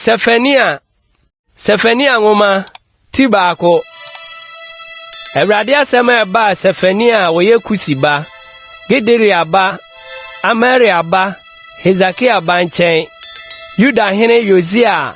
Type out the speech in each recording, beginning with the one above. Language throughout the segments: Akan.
Sefania Sefania nwoma ti baako Awurade asɛm a ɛbaa Sefania a wɔyɛ Kusi ba, Gederia ba, Amaria ba, Hesekia ba nkyɛn, Yuda hene Yosia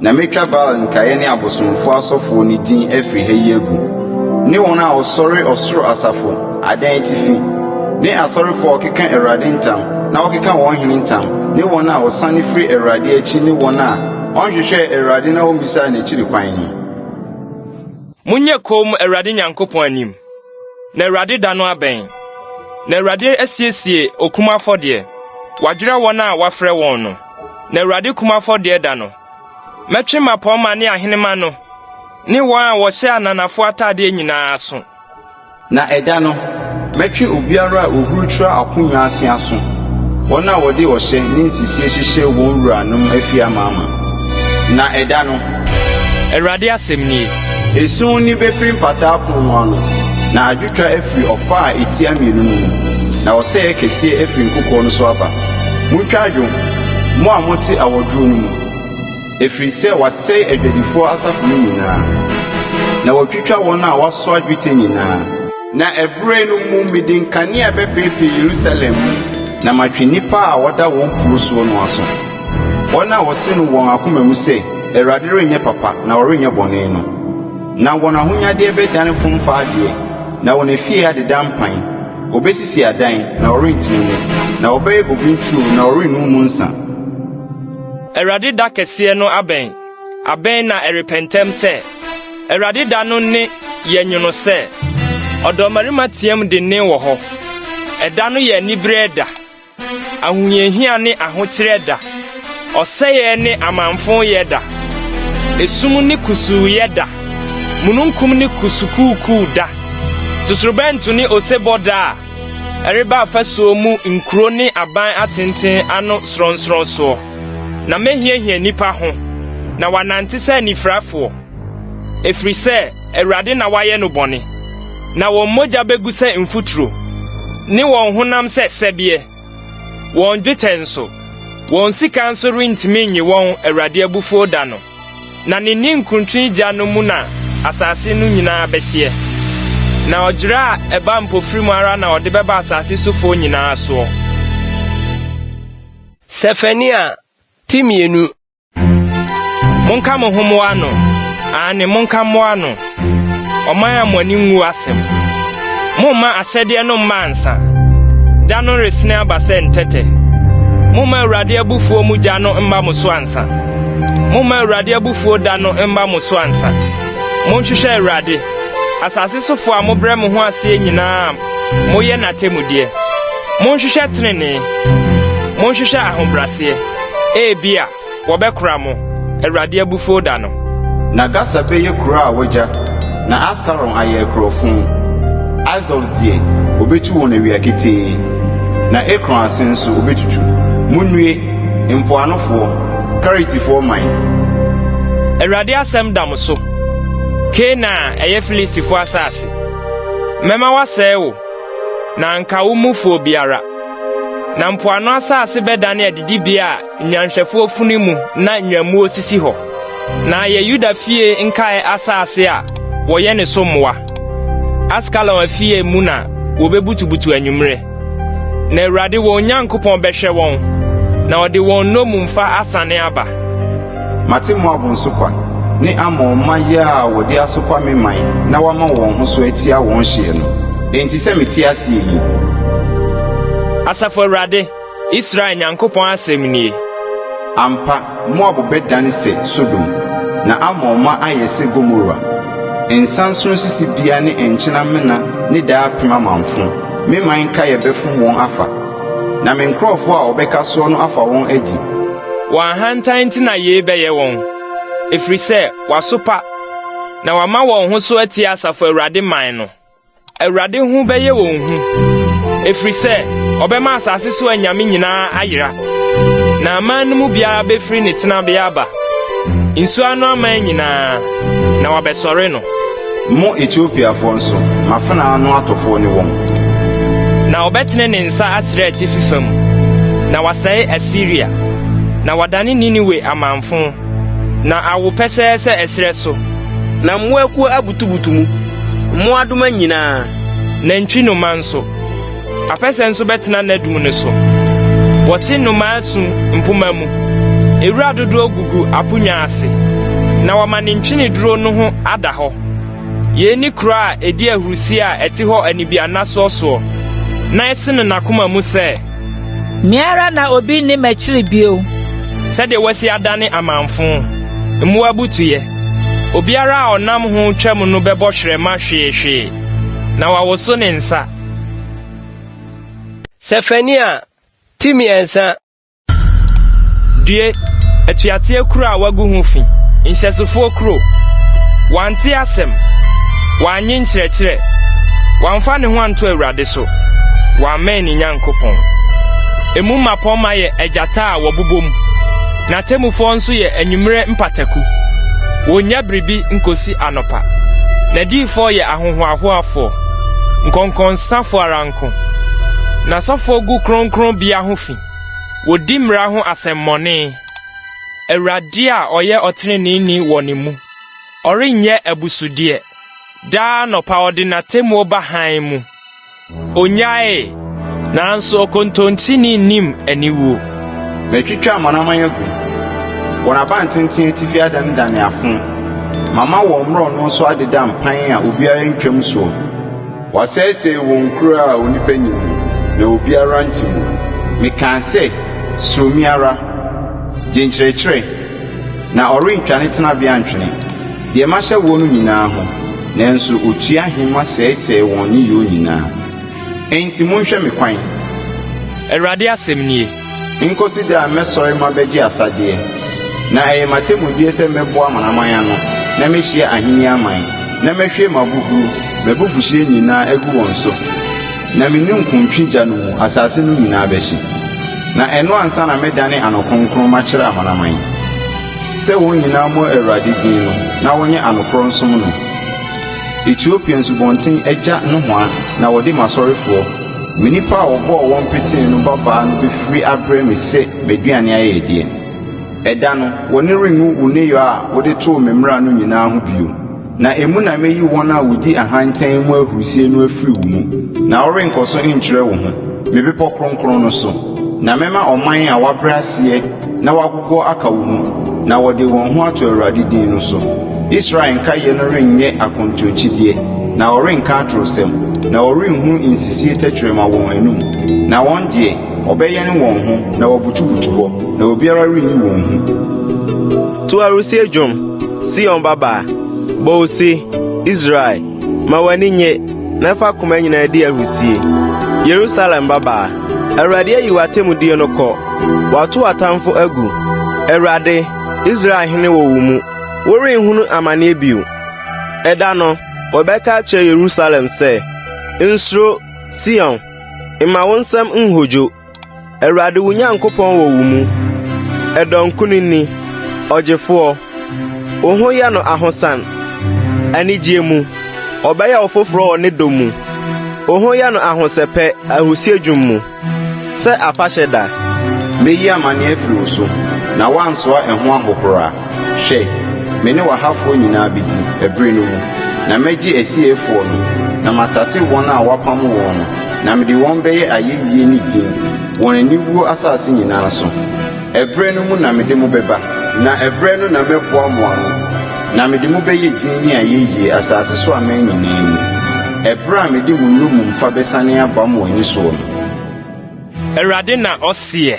Na mɛtwa Baal nkaeɛ ne abosomfoɔ asɔfoɔ no din afiri ha yi agu, ne wɔn a wɔsɔre ɔsoro asafo adan atifi, ne asɔrefoɔ a wɔkeka Awurade ntam na wɔkeka wɔn hene ntam, ne wɔn a wɔsane firi Awurade akyi ne wɔn a wɔnhwehwɛɛ Awurade na wɔmmisaa n'akyiri kwan no. Monyɛ komm Awurade Nyankopɔn anim, na Awurade da no abɛn. Na Awurade asiesie okunumu afɔdeɛ, wadwerɛ wɔn a wɔafrɛ wɔn no. Na Awurade kum afɔdeɛ da no, mɛtwe mmapɔmma ne ahenemma no ne wɔn a wɔhyɛ ananafoɔ atadeɛ nyinaa aso. Na ɛda no, mɛtwe obiara a ɔhurukyerɛ akonnwa ase aso, wɔn a wɔde ɔhyɛ ne nsisie hyehyɛ wɔn wuranom afie amaama. Na ɛda no. Awurade asɛm nie. Esum nne bɛfiri Mpataa Pono no ano, na adwotwa afiri ɔfã a ɛtia mmienu no mu, na ɔsɛeɛ kɛseɛ afiri nkokoɔ no so aba. Montwa adwo, mo a mote awɔdwoɔ no mu, ɛfiri sɛ wɔasɛe adwadifoɔ asafo no nyinaa, na wɔatwitwa wɔn a wɔasoa dwetɛ nyinaa. Na ɛberɛ no mu mede nkanea bɛpeepee Yerusalem mu na matwe nnipa a wɔda wɔn nkuro soɔ no aso, wɔn a wɔse no wɔn akoma mu sɛ, Awurade renyɛ papa na ɔrenyɛ bɔne no. Na wɔn ahonyadeɛ bɛdane fomfaadeɛ, na wɔn afie adeda mpan. Wɔbɛsisi adan, na wɔrentena mu. Na wɔbɛyɛ bobe nturo, na wɔrennom mu nsã. Awurade da kɛseɛ no abɛn, abɛn na ɛrepɛ ntɛm sɛ. Awurade da no nne yɛ nwono sɛ. Ɔdɔmmarima team dennen wɔ hɔ. Ɛda no yɛ anibereɛ da. Ahohiahia ne ahokyerɛ da. Ɔsɛeɛ ne amanfoyɛ da. Esum ne kusuuyɛ da. Mununkum ne kusukuukuu da. Totorobɛnto ne osebɔ da a ɛreba afasuo mu nkuro ne aban atenten ano sorɔnsorɔnsoɔ. Na mɛhiahia nnipa ho, na wɔanante sɛ anifirafoɔ. ɛfiri sɛ Awurade na wayɛ no bɔne. Na wɔn mogya bɛgu sɛ mfuturo, ne wɔn honam sɛ sɛbeɛ, wɔn dwetɛ nso, wɔn sika nso rentumi nnye wɔn Awurade abufuo da no, na ne ninkuntwe gya no mu na asase no nyinaa bɛhyeɛ. Na ɔdwerɛ a ɛba mpofirim ara na ɔde bɛba asase sofoɔ nyinaa soɔ. Sefania ti mmienu. Monka mo ho mmoa ano, aane, monka mmoa ano, ɔman a mo ani nwu asɛm. Momma ahyɛdeɛ no mma ansa, da no resene aba sɛ ntɛtɛ. Momma Awurade abufuo mu gya no mma mo so ansa. Momma Awurade abufuo da no mma mo so ansa. Monhwehwɛ Awurade, asase sofoɔ a mobrɛ mo ho aseɛ nyinaa Moyɛ n'atemmudeɛ. Monhwehwɛ tenenee. Monhwehwɛ ahobraseɛ. Ebia wɔbɛkora mo, Awurade abufuo da no. Na Gasa bɛyɛ kuro a wɔagya, na Askalon ayɛ akurowfõ. Asdod deɛ, wɔbɛtu wɔn awia ketee, na Ekron ase nso, wɔbɛtutu. Monnue, mpoanofoɔ, Keretifoɔ man! Awurade asɛm da mo so, Kana a ɛyɛ Filistifoɔ asase. Mɛma wɔasɛe wo, na anka wo mufo obiara. Na mpoano asase bɛdane adidibea a nnwanhwɛfo funu mu na nnwammuo sisi hɔ, na ayɛ Yuda fie nkae asase a wɔyɛ ne so mmoa. Askelon afie mu na wobebutubutu anwummere. Na Awurade wɔn Nyankopɔn bɛhwɛ wɔn, na ɔde wɔn nnommumfa asane aba. Mate Moab nsokwa, ne Amon mma yea a wɔde asokwa me man na wɔama wɔn ho so atia wɔn hyeɛ no. Enti sɛ mete aseɛ yi. Asafo Awurade, Israel Nyankopɔn asɛm nie. Ampa, Moab bɛdan sɛ Sodom, na Amon mma ayɛ sɛ Gomora. Nsa nsono sisi bea ne nkyena mena ne daapem amamfõ, me man nkaeɛ bɛfom wɔn afa, na me nkurɔfoɔ a wɔbɛka soɔ no afa wɔn adi. Wɔn ahantan nti na yei bɛyɛ wɔn, ɛfiri sɛ wɔasopa, na wɔama wɔn ho so atia Asafo Awurade man no. Awurade ho bɛyɛ wɔn hu, ɛfiri sɛ ɔbɛma asase so anyame nyinaa ayera, na aman no mu biara bɛfiri ne tenabea aba, nsuo ano aman nyinaa, na wɔabɛsɔre no. Mo Etiopiafoɔ nso, m'afenaa ano atɔfoɔ ne wɔn. Na ɔbɛtene ne nsa akyerɛ atifi fam, na wasɛe Asiria, na wadane Niniwe amamfõ. Na awo pɛsɛɛ sɛ ɛserɛ so. Na mmoa akuo abutubutu mu. Mmoadoma nyinaa. Nantwi nnomaa nso. Apɛsɛ nso bɛtena n'adum no so. Wɔte nnomaa su mpoma mu. Ewura dodoɔ gugu aponnwa ase. Na wɔama ne ntweneduro no ho ada hɔ. Yei ne kuro a ɛdi ahurisie a ɛte hɔ anibiannasoɔsoɔ, na ɛsene n'akoma mu sɛ. Me ara na obi nni m'akyiri bio. Sɛdeɛ wɔasi adane amamfõ mmoa butuiɛ. Obiara a ɔnam ho twam no bɛbɔ hwerɛma hweehwee, na wawoso ne nsa. Sefania, ti mmiɛnsa. Due, atuateɛ kuro a wɔagu ho fi, nhyɛsofoɔ kuro! Wante asɛm, wannye nkyerɛkyerɛ, wamfa ne ho anto Awurade so. do, ɔammɛn ne Nyankopɔn. Emu mmapɔmma yɛ agyata a wɔbobom, n'atemmufoɔ nso yɛ anwummerɛ mpataku. Wɔnnya biribi nkɔsi anɔpa. N'adiyifoɔ yɛ ahohoahoafoɔ, nkɔnkɔnsafoɔ ara nko. N'asɔfoɔ gu kronkronbea ho fi, wɔdi mmara ho asɛmmɔne. Awurade a ɔyɛ ɔteneneeni wɔ ne mu, ɔrennyɛ abusudeɛ. Daa anɔpa ɔde n'atemmuo ba hann mu. Ɔnyaee, nanso ɔkontontini nnim aniwuo. Matwitwa amanaman agu. Wɔn abantenten atifi adanedane afõ. Mama wɔn mmorɔno so adeda mpan a obiara ntwam soɔ. Wɔasɛesɛe wɔn nkuro a onipa nni mu, na obiara nte mu. Mekaa sɛ, Suro me ara. Gye nkyerɛkyerɛ, Na ɔrentwa ne tenabea ntwene. Deɛ mahyɛ woɔ no nyinaa ho. Nanso ɔtua ahema sɛesɛe wɔn nneyɔɔ nyinaa. Enti monhwɛ me kwan. Awurade asɛm nie. Nkɔsi da a mɛsɔre mabɛgye asadeɛ. Na ɛyɛ m'atemmudeɛ sɛ mɛboa amanaman ano, na mɛhyia ahennie aman, na mɛhwie m'abohuro, m'abufuhyeɛ nyinaa agu wɔn so, na me ninkuntwe gya no mu asase no nyinaa bɛhye. Na ɛno ansa na mɛdane ano kronkron makyerɛ amanaman yi, sɛ wɔn nyinaa mmɔ Awurade din no na wɔnyɛ anokorɔ nsom no. Etiopia nsubɔnten agya nohoa na wɔde m'asɔrefoɔ, me nnipa a wɔbɔɔ wɔn petee no babaa no bɛfiri abrɛ me sɛ m'aduane ayɛyɛdeɛ. Ɛda no, w'ani renwu wo nneyɔɛ a wode too me mmara no nyinaa ho bio. Na emu na meyi wɔn a wodi ahantan mu ahurusie no afiri wo mu, na worenkɔ so nkyerɛ wo ho me bepɔ kronkron no so. Na mɛma ɔman a wɔabrɛ aseɛ na wɔagogoɔ aka wo mu, na wɔde wɔn ho ato Awurade din no so. Israel nkaeɛ no renyɛ akontonkyideɛ, na wɔrenka atorosɛm, na wɔrenhunu nsisie tɛkyerɛma wɔn anom, na wɔn deɛ, Wɔbɛyɛn wɔn ho na wɔabutubutu hɔ, na obiara renyi wɔn hu. To ahurisie dwom, Sion babaa, bɔ ose, Israel, ma w'ani nnye, na fa koma nyinaa di ahurisie. Yerusalem babaa, Awurade ayi w'atemmudeɛ no kɔ, wato w'atamfo agu. Awurade, Israel hene wɔ wo mu, worenhunu amanneɛ bio. Ɛda no, wɔbɛka akyerɛ Yerusalem sɛ, Nsuro, Sion, Mma wo nsam nhodwo. Awurade wo Nyankopɔn wɔ wo mu. Ɛdɔ nkonini, ɔgyefoɔ. Wo ho yɛ no ahosan. Anigyeɛ mu, ɔbɛyɛ wo foforɔ wɔ ne dɔ mu. Wo ho yɛ no ahosɛpɛ ahusie dwom mu, sɛ afahyɛ da. Meyi amanneɛ afiri wo so, na woansoa ɛho ahohora. Hwɛ, me ne w'ahafoɔ nyinaa bɛdi, ɛberɛ no mu, na mɛgye asieeɛfoɔ no, na matase wɔn a wɔapamo wɔn no, na mede wɔn bɛyɛ ayɛyie ne din, wɔn aniwuo asase nyinaa so. Ɛberɛ no mu na mede mo bɛba. Na ɛberɛ no na mɛboa mo ano, na mede mo bɛyɛ din ne ayɛyie, asase so aman nyinaa mu, ɛberɛ a mede mo nnommumfa bɛsane aba mo ani soɔ no. Awurade na ɔseɛ.